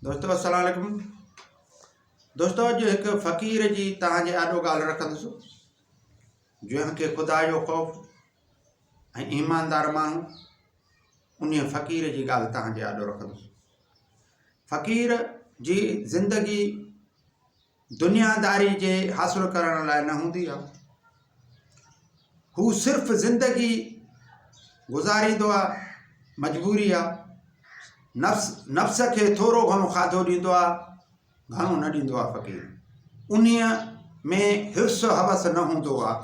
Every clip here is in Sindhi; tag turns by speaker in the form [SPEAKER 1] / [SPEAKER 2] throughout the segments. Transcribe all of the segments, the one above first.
[SPEAKER 1] دوستو السلام عليڪم دوستو اڄ هڪ فقير جي توهان جي آڏو ڳالهه رکندس جنهن کي خدا جو خوف ۽ ايماندار ماڻهو ان فقير جي ڳالهه توهان جي آڏو رکندس فقير جي زندگي دنياداري جي حاصل ڪرڻ لاء نه هوندي آهي. هو صرف زندگي گذاريندو آهي، مجبوري آهي. نفس نفس کي ٿورو گهڻو کاڌو ڏيندو آهي، گهڻو نه ڏيندو آهي فقير. انهيء ۾ حرص حوس نه هوندو آهي.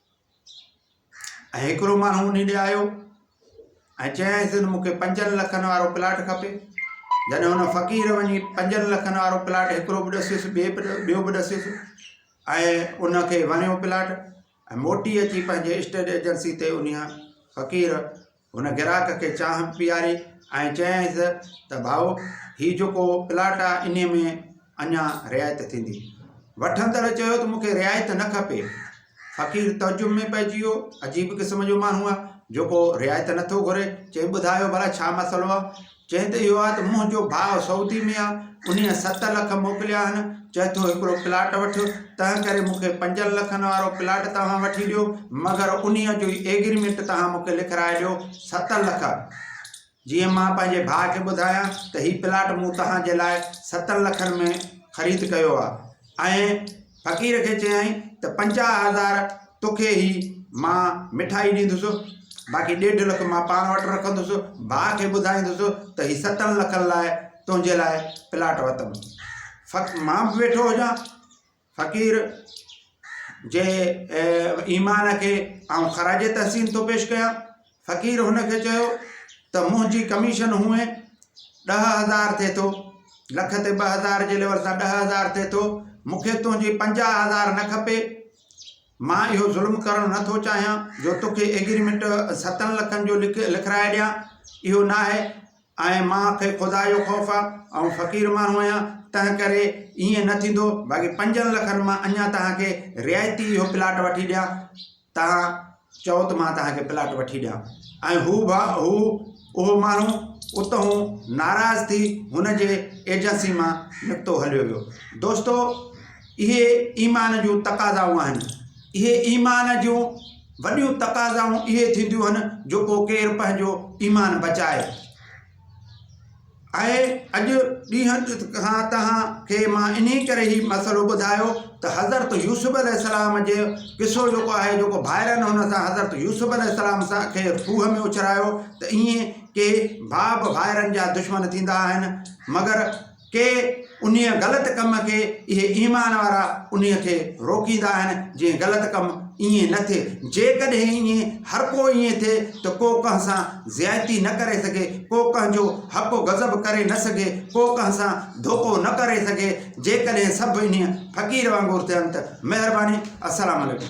[SPEAKER 1] ۽ هڪڙو ماڻهو انهي ڏي آيو ۽ چيائينس ته مونکي پنجن لکن وارو پلاٽ کپي جڏهن هن فقير وڃي پنجن لکن وارو پلاٽ هڪڙو به ڏسيس ٻئي به ٻيو به ڏسيس ۽ انکي وڻيو پلاٽ ۽ موٽي اچي پنهنجي اسٽيٽ ايجنسي تي انهي فقير هن گراهڪ کي چانهه پياري ۽ چيائينس ته ڀائو هي جيڪو پلاٽ آ انهي ۾ اڃا رعايت ٿيندي. وٺندڙ چيو ته مون کي رعايت نه کپي. فقير تعجب ۾ پئجي ويو، عجيب قسم جو ماڻهو آ جيڪو رعايت نٿو گهري، چيائين ٻڌايو ڀلا ڇا مسئلو آ؟ چئين ته اهو آهي ته منهن جو ڀاء سعودي ۾ آهي، انهيء ست لک موڪليا آهن، چئي ٿو هڪڙو پلاٽ وٺ، تنهن ڪري مون کي پنجن لکن وارو پلاٽ توهان وٺي ڏيو، مگر انهيء جو ئي ايگريمينٽ توهان مون کي لکرائي ڏيو ست لک، جيئن مان پنهنجي ڀاء کي ٻڌايان ته هي پلاٽ مون توهان جي لاء ستن لکن ۾ خريد ڪيو آهي ۽ فقير کي چيائين ته پنجاهه هزار توکي هي مان مٺائي ڏيندس، باقي ڏيڍ لک مان پاڻ وٽ رکندس، ڀاء کي ٻڌائيندس ته هي ستن لکن لاء تنهنجي لاء پلاٽ وتم. فق مان به ويٺو هجان. فقير جي ايمان کي آئون خراج تحسين ٿو پيش ڪيان. فقير هن کي چيو ته منهنجي ڪميشن هونئن ڏهه هزار ٿئي ٿو، لک تي ٻه هزار جي ليول سان ڏهه هزار ٿئي ٿو، مون کي تنهنجي پنجاهه هزار نه کپي، مان اهو ظلم ڪرڻ نه ٿو چاهيان جو توکي ايگريمينٽ ستن لکن جو لکرائي ڏيان، اهو ناهي ۽ مان کي خدا جو خوف آ، آئون فقير ماڻهو آهيان، تنهنڪري ائين نه ٿيندو، باقي پنجن لکن مان اڃا توهان کي رعايتي اهو پلاٽ وٺي ڏيان. توهان چئو ته مان توهان کي پلاٽ وٺي ڏيان ۽ هو ڀا هو اهو ماڻهو اتهون ناراض ٿي هن جي ايجنسي مان نڪتو هليو ويو دوستو اهي ايمان جون تقاضائون آهن اهي ايمان جون وڏيون تقاضائون اهي ٿينديون آهن جو ڪو ڪير پنهنجو ايمان بچائي آهي اڄ ڏينهن کان توهان کي مان انهي ڪري هي مسئلو ٻڌايو ته حضرت يوسف عليه السلام جي قصو جيڪو آهي جيڪو ڀائرن هن سان حضرت يوسف عليه السلام سان کي کوهه ۾ اڇلايو ته ايئن ڪي ڀاء به ڀائرن جا دشمن ٿيندا آهن مگر ڪي انهيء غلط ڪم کي اهي ايمان وارا انهيء کي روڪيندا آهن جيئن غلط ڪم ائين نه ٿئي. جيڪڏهن ائين هر ڪو ائين ٿئي ته ڪو ڪنهن سان زيادتي نه ڪري سگهي، ڪو ڪنهن جو حق و غضب ڪري نه سگهي، ڪو ڪنهن سان ڌوڪو نه ڪري سگهي. جيڪڏهن سڀ انهيء فقير وانگر ٿين ته مهرباني. السلام عليڪم.